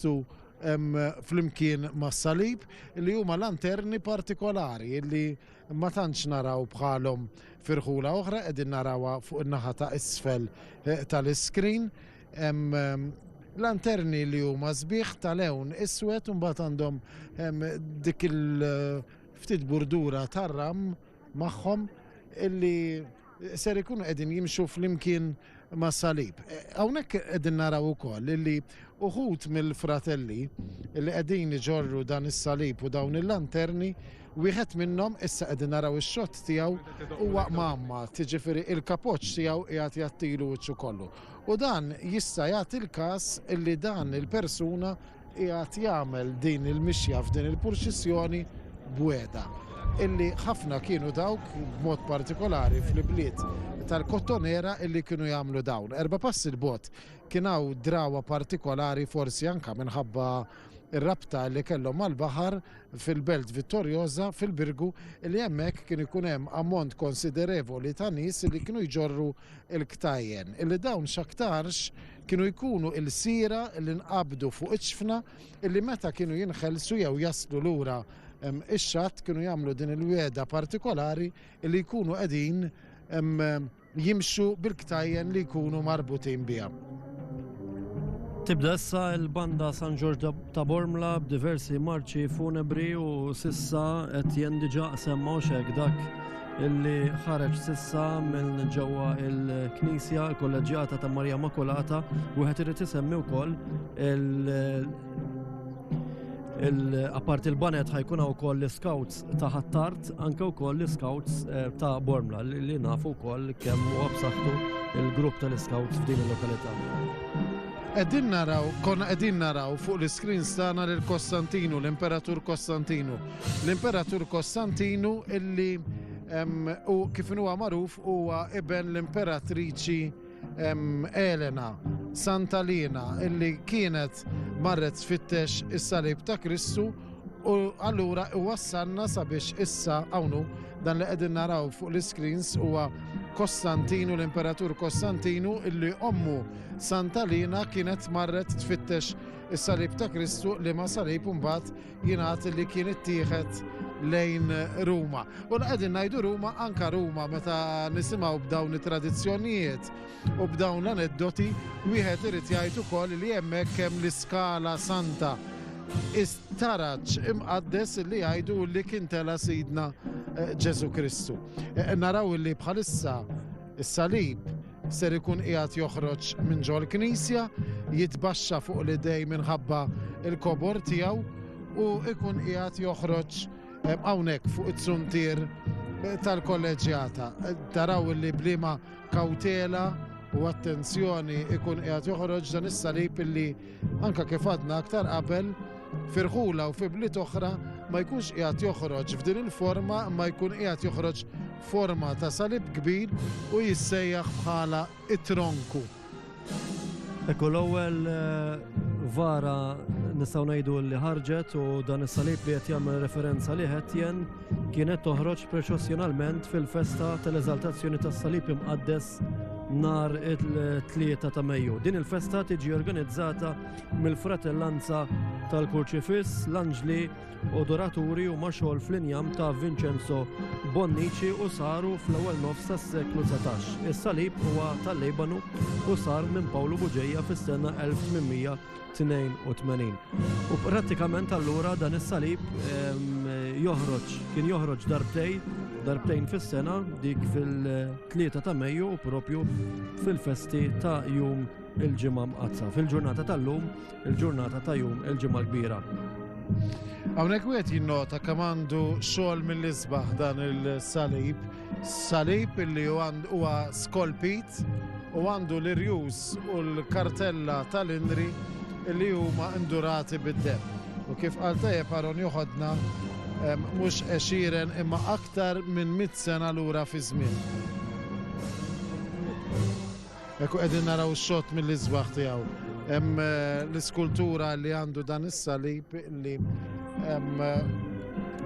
jitħattu flimkien mas-salib li huma lanterni partikolari li ma tantx naraw bħalhom firħula oħra qegħdin narawha fuq in-naħa ta' isfel eh, tal-iskrin. Lanterni li huma sbieħ tal-ewn iswed u mbagħad għandhom dik il-ftit eh, burdura tar-ram magħhom illi ser ikunu qegħdin jimxu flimkien mas-salib. E, hawnhekk qegħdin naraw ukoll li uħud mill-fratelli li qegħdin iġorru dan is-salib u dawn il-lanterni Wieħed minnhom issa qegħdin naraw ix-xott tiegħu huwa mamma, tiġifieri il-kapoċ tiegħu qiegħed jattilu wiċċu kollu. U dan jista' jagħti l-każ li dan il-persuna qiegħed jagħmel din il-mixja f'din il-purċissjoni b'wegħda illi ħafna kienu dawk b'mod partikolari fl-ibliet tal-Kottonera illi kienu jagħmlu dawn. Erba' passi l-bot kien hawn drawa partikolari forsi anka minħabba ir-rabta li kellhom mal-baħar fil-Belt Vittorjoża fil-Birgu li hemmhekk kien ikun hemm ammont konsiderevoli ta' nies li kienu jġorru il-ktajjen, illi dawn x'aktarx kienu jkunu ilsiera li nqabdu fuq iċ-ċfna illi meta kienu jinħelsu jew jaslu lura ix-xatt kienu jagħmlu din il-wegħda partikolari illi jkunu qegħdin jimxu bil-ktajjen li jkunu marbutin biha. Tibda issa il-banda San Ġorġ ta' Bormla b'diversi marċi funebri u sissa qed jendiġa semma xek dak illi ħareġ sissa minn ġewwa il-Knisja l-Kolleġġjata ta' Marija Makulata wieħed irid isemmi wkoll il-apparti il-banet ħajkun wkoll l-scouts ta' ħattart anke wkoll l-Scouts eh, ta' Bormla li nafu wkoll kemm huwa b'saħħtu il-grupp tal-Scouts f'din il-lokalità. Qegħdin naraw, konna qegħdin naraw fuq l-iskreens tagħna lil Kostantinu, l-Imperatur Kostantinu. L-Imperatur Kostantinu illi u kif huwa magħruf huwa iben l-Imperatriċi Elena, Santalina, illi kienet marret tfittex is-salib ta' Kristu u allura iwassalna sabiex issa hawnhu dan li qegħdin naraw fuq l-iscreens huwa Kostantinu l-Imperatur Kostantinu illi ommu Santalina kienet marret tfittex is-salib ta' Kristu li ma salib imbagħad jingħad li kien ittieħed lejn Ruma. U l-qegħdin ngħidu Ruma anka Ruma meta nisimgħu b'dawn it-tradizzjonijiet u b'dawn l-aneddoti wieħed irid jgħid ukoll li hemmhekk hemm l-iskala santa istaraċ imqaddes li jgħidu li kien tela sidna eh, Ġesu Kristu. Eh, naraw li bħalissa is-salib ser ikun qiegħed joħroġ minn ġol-knisja, jitbaxxa fuq l-idej minħabba il-kobor tiegħu u ikun qiegħed joħroġ eh, hawnhekk fuq it-suntier eh, tal-kolleġjata. Eh, taraw li blima kawtela u attenzjoni ikun qiegħed joħroġ dan is-salib illi anke kif għadna aktar qabel, f'irħula u fi bliet oħra ma jkunx qiegħed joħroġ f'din il-forma imma jkun qiegħed joħroġ forma ta' salib kbir u jissejjaħ bħala it-tronku. Ekku l-ewwel eh, vara nistgħu ngħidu li ħarġet u dan is-salib li qed jagħmel referenza li qed jen kienet toħroġ proċessjonalment fil-festa tal-Eżaltazzjoni tas-Salib Imqaddes nar it-3 ta' Mejju. Din il-festa tiġi organizzata mill-Fratellanza tal-Kurċifiss, l-Anġli, Odoraturi u Maxol fl-injam ta' Vincenzo Bonnici u saru fl-ewwel nofs tas-seklu 19. Is-salib huwa tal-Libanu u sar minn Pawlu Buġeja fis-sena 1800 82. U prattikament allura dan is-salib joħroġ, kien joħroġ darbtej, darbtejn fis-sena dik fil-3 ta' Mejju u propju fil-festi ta' jum il-ġimgħa mqazza. Fil-ġurnata tal-lum, il-ġurnata ta' jum il-ġimgħa kbira. Hawnhekk wieħed jinnota kemm għandu xogħol mill-isbaħ dan il-salib Salib illi huwa skolpit u għandu l-irjus u l-kartella tal-inri illi huma indurati bid-dem. U kif qal tajjeb Aron joħodna mhux għexieren imma aktar minn mit sena lura fi żmien. Hekk u qegħdin naraw xott mill-isbaħ tiegħu. Hemm l-iskultura li għandu dan is-salib li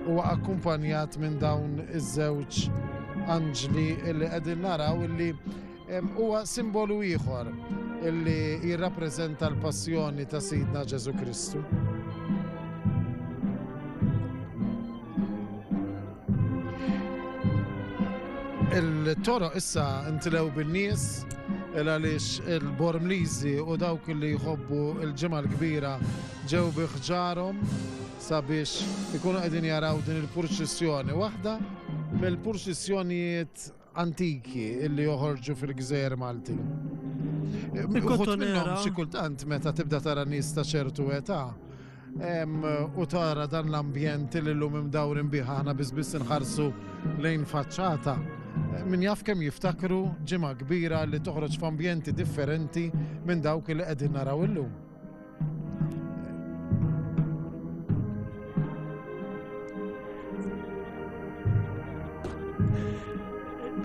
huwa akkumpanjat minn dawn iż-żewġ anġli li qegħdin naraw li huwa simbolu ieħor illi jirrappreżenta l-passjoni ta' Sidna Ġesu Kristu. Il-toro issa ntilew bin-nies għaliex il-Bormliżi u dawk li jħobbu l-ġimgħa l-kbira ġew biħġarhom sabiex ikunu qegħdin jaraw din il-purċissjoni waħda mill-purċissjonijiet antiki illi joħorġu fil-gżejjer Maltin. Uħut minnhom xi kultant meta tibda tara nies ta' ċertu età u tara dan l-ambjent li l-lum imdawrin biħa ħana bizbis nħarsu lejn faċċata. Min jaf kemm jiftakru ġimgħa kbira li toħroġ f'ambjenti differenti minn dawk li qegħdin naraw illum.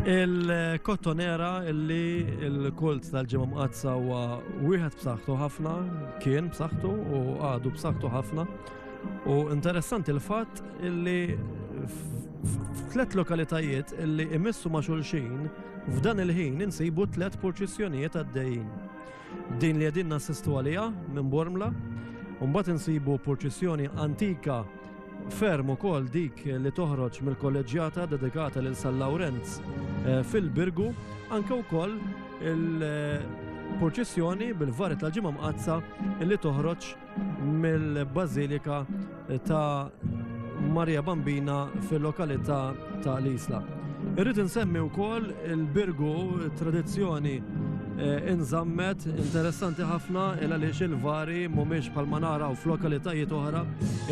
Il-kottonera illi il-kult tal-ġimgħa mqazza huwa wieħed b'saħħtu ħafna, kien b'saħħtu u għadu b'saħħtu ħafna. U interessanti l-fatt illi f'tlet lokalitajiet illi imissu ma' xulxin f'dan il-ħin insibu tlet purċissjonijiet għaddejjin. Din li qegħdin nassistu għaliha minn Bormla, u mbagħad insibu purċissjoni antika ferm ukoll dik li toħroġ mill-kolleġġjata dedikata lil San Lawrenz eh, fil-Birgu, anke wkoll il-purċissjoni bil-vari tal-ġimgħa mqazza li toħroġ mill-Bażilika ta' Maria Bambina fil-lokalità ta' l-Isla. Irrid insemmi wkoll il-birgu tradizzjoni eh, inżammet interessanti ħafna il għaliex il-vari mhumiex bħal ma naraw f'lokalitajiet oħra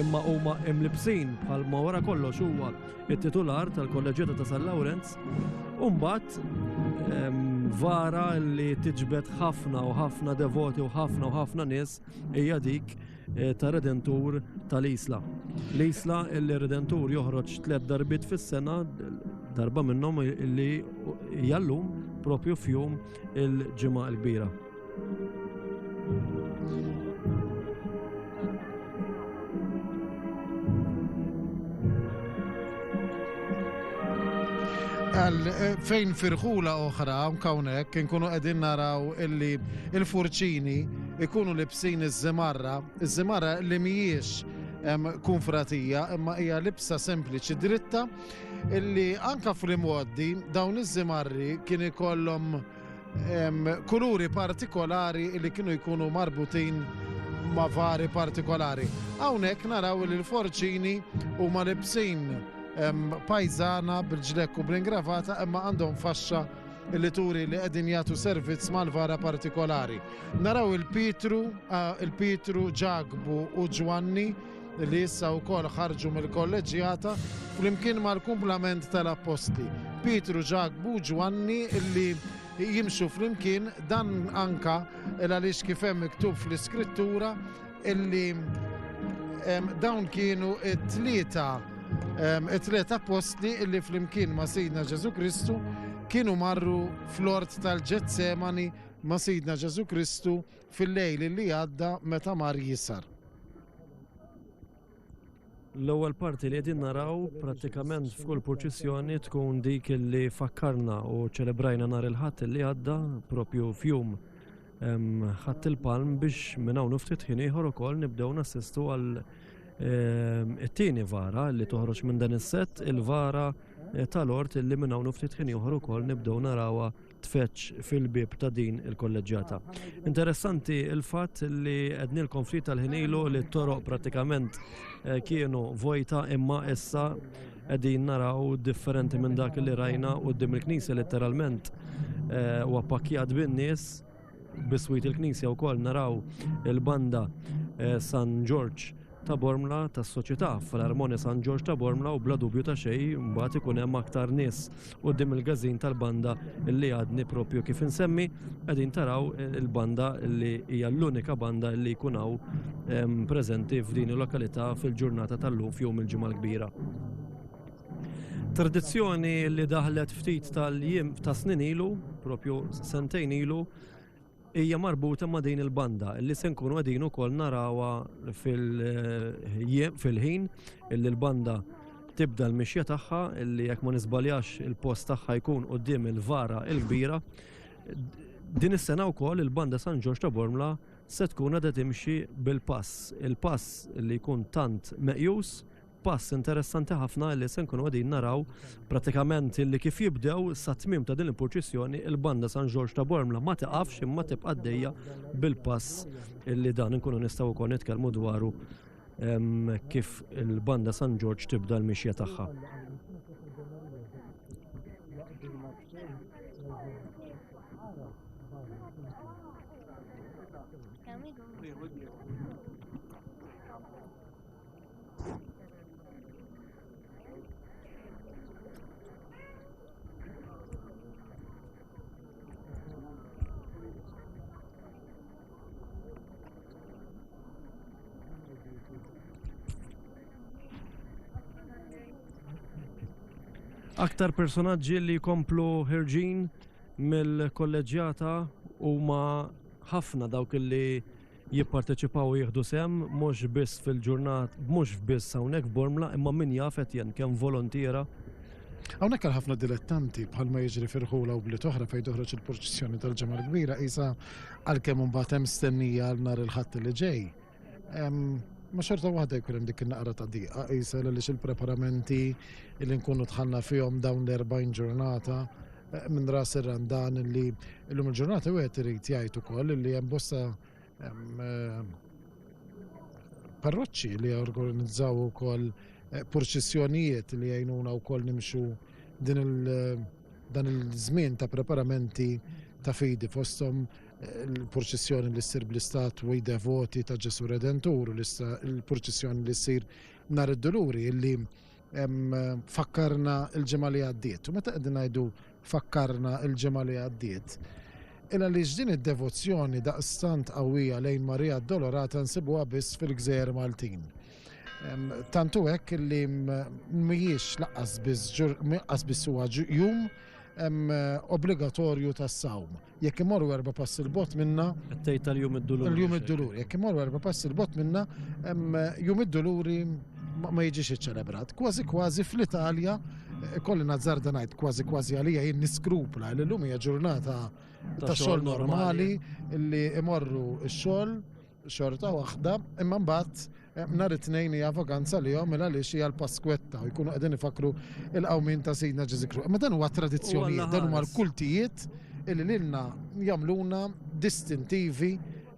imma huma imlibsin bħal ma wara kollox huwa it-titular tal-Kolleġġjata ta' San Lawrenz. Umbat ehm, vara li tiġbed ħafna u ħafna devoti u ħafna u ħafna nies Hija dik eh, ta' Redentur tal-Isla. L-Isla li Redentur joħroġ tliet darbit fis-sena, darba minnhom li jallum propju fjum il-ġimgħa l-kbira. Għal eh, fejn firħula oħra, unkawnek, nkunu għedin naraw illi il-furċini ikunu libsin iż-żimarra, iż-żimarra li mhijiex kunfratija imma hija libsa sempliċi dritta illi anka fl-imgħoddi dawn iż-żimarri kien ikollhom kuluri partikolari li kienu jkunu marbutin ma' vari partikolari. Hawnhekk naraw li l-forċini huma libsin pajzana bil-ġlek u bl-ingravata imma għandhom faxxa li turi li qegħdin jagħtu servizz mal-vara partikolari. Naraw il-Pitru, il-Pitru, Ġagbu u Ġwanni li issa wkoll ħarġu mill-kolleġġjata flimkien mal-kumplament tal-apposti. Pitru, Ġagbu, Ġwanni li jimxu flimkien dan anka il għaliex kif hemm miktub fl-iskrittura Illi dawn kienu it-tlieta it-tlieta postli illi flimkien ma' Sidna Ġesu Kristu kienu marru fl-ort tal-Ġetsemani ma' Sidna Ġesu Kristu fil-lejl li għadda meta mar jisar. L-ewwel parti li qegħdin naraw prattikament f'kull purċissjoni tkun dik li fakkarna u ċelebrajna nhar il-Ħadd li għadda propju fjum ħadd il-palm biex minn hawn ftit ħin ieħor ukoll nibdew nassistu għal it-tieni vara li toħroġ minn dan is-sett il-vara tal-ort li minn hawn ftit ħin ieħor ukoll nibdew narawha tfeġġ fil-bieb ta' din il-kolleġġjata. Interessanti il-fatt li għednilkom ftit tal-ħin ilu li t-toroq pratikament eh, kienu vojta imma issa qegħdin naraw differenti minn dak li rajna u dim il-knisja letteralment eh, u appakkjat bin-nies Biswit il-knisja wkoll naraw il-banda eh, San Ġorġ ta' Bormla tas soċjetà fl-Armonja San Ġorġ ta' Bormla u bla dubju ta' xej mbagħad ikun hemm aktar nies quddiem il-gażin tal-banda li għadni propju kif insemmi qegħdin taraw eh, il-banda li hija l-unika banda li jkun hawn ehm, preżenti f'din il-lokalità fil-ġurnata tal-lum f'jum il-ġimgħa l-kbira. Tradizzjoni li daħlet ftit tal-jiem ta' snin ilu, propju sentejn ilu, hija marbuta ma' din il-banda li se nkunu qegħdin ukoll narawha fil-ħin illi l-banda tibda l-mixja tagħha illi jekk ma nisbaljax il-post tagħha jkun qudiem il-vara il-kbira. Din is-sena wkoll il-banda San Ġorġ ta' Bormla se tkun għadha timxi bil-pass, il-pass li jkun tant meqjus Pass interessanti ħafna li se nkunu qegħdin naraw pratikament li kif jibdew sa tmiem ta' din il-purċissjoni il-banda San Ġorġ ta' Bormla ma tiqafx imma tibqa' għaddejja bil-pass li dan nkunu nistgħu wkoll nitkellmu dwaru kif il-banda San Ġorġ tibda l-mixja tagħha. Aktar personaġġi li jkomplu ħirġin mill-kolleġġjata huma ħafna dawk li jipparteċipaw u jieħdu sehem mhux biss fil-ġurnat, mhux biss hawnhekk f'Bormla, imma min jaf Etienne kemm volontiera. Hawnhekk għal ħafna dilettanti bħalma jiġri f'Irħula u bliet oħra fejn toħroġ il-purċissjoni tal-Ġimgħa l-Kbira qisha għalkemm imbagħad hemm stennija għal nhar il-Ħadd li ġej. Ma xorta waħda jkun hemm dik in-naqra ta' diqa qisha għaliex il-preparamenti li nkunu tħanna fihom dawn l-40 ġurnata minn ras ir-randan li llum il-ġurnata wieħed irid jgħid ukoll li hemm bosta eh, parroċċi li organizzaw ukoll eh, purċissjonijiet li jgħinuna wkoll nimxu din il eh, dan il-żmien ta' preparamenti ta' fidi fosthom il-purċissjoni li ssir bl-istatwi devoti ta' Ġesu Redentur, il-purċissjoni li ssir nhar id-duluri li fakkarna l-ġimgħa li għaddiet. U meta qegħdin ngħidu fakkarna l-ġimgħa li għaddiet, illa li din id-devozzjoni daqstant qawwija lejn Marija Dolorata nsibuha biss fil-gżejjer Maltin. Tantu hekk li mhijiex laqqas biss huwa jum obbligatorju tas-sawm. Jekk imorru erba' passi l-bot minna. Qed tgħid tal-jum id-duluri. Tal-jum id-duluri. Jekk imorru erba' passi l-bot minna, jum id-duluri ma jiġix iċċelebrat. Kważi kważi fl-Italja, eh, kolli nazzarda ngħid kważi kważi għalija jien niskrupla li llum hija ġurnata ta' xogħol normali li imorru x-xogħol xorta waħda, imma mbagħad eh, nhar it-tnejn hija vakanza li jom mela għaliex hija l-Paskwetta u jkunu qegħdin ifakru il-qawmin ta' Sidna Ġeżikru. Imma dan huwa tradizzjoni, dan huwa l-kultijiet illi lilna jagħmluna distintivi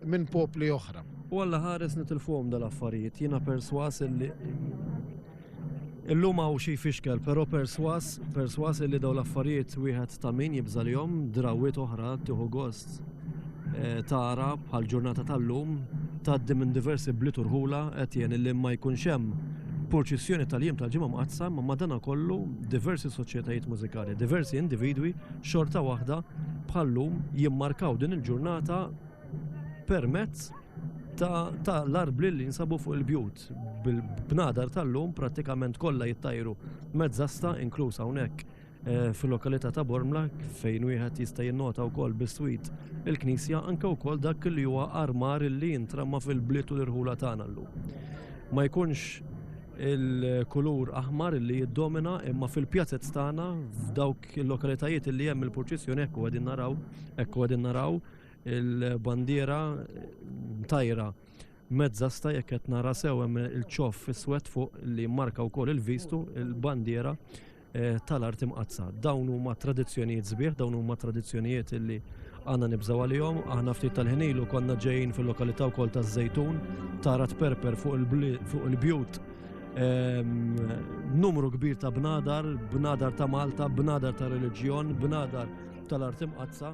minn popli oħra. U għalla ħares nitilfuhom dal-affarijiet, jiena perswas illi Illum hawn xi jfixkel, però perswas, perswas illi daw l-affarijiet wieħed ta' min jibża' lihom, drawwiet oħra tieħu gost eh, tara bħal ġurnata tal-lum tgħaddi minn diversi bliet u rħula qed jien illi ma jkunx hemm purċissjoni tal-jiem tal-ġimgħa mqaddsa ma madana kollu diversi soċjetajiet mużikali, diversi individwi xorta waħda bħallum jimmarkaw din il-ġurnata permezz ta' l-arbli li jinsabu fuq il-bjut. Bil-bnadar tal-lum prattikament kollha jittajru mezzasta inkluż hawnhekk eh, fil-lokalità ta' Bormla fejn wieħed jista' jinnota wkoll biswit il-knisja anke wkoll dak li huwa armar li jintramma fil-bliet u l-irħula tagħna llum. Ma jkunx il-kulur aħmar li jiddomina imma fil-pjazet tagħna f'dawk il-lokalitajiet li hemm il-purċissjoni hekk qegħdin naraw, hekk qegħdin naraw il-bandiera tajra Mezzasta jekk qed nara sew hemm il-ċof iswed fuq li jimmarka wkoll il-vistu, il-bandiera eh, tal-art imqaddsa. Dawn huma tradizzjonijiet sbieħ, dawn huma tradizzjonijiet li għandna nibżgħu għalihom. Aħna ftit tal-ħinilu konna ġejjin fil-lokalità wkoll taż-Żejtun, tara tperper fuq il-bjut ehm, numru kbir ta' bnadar, bnadar ta' Malta, bnadar ta' reliġjon, bnadar tal-art imqaddsa.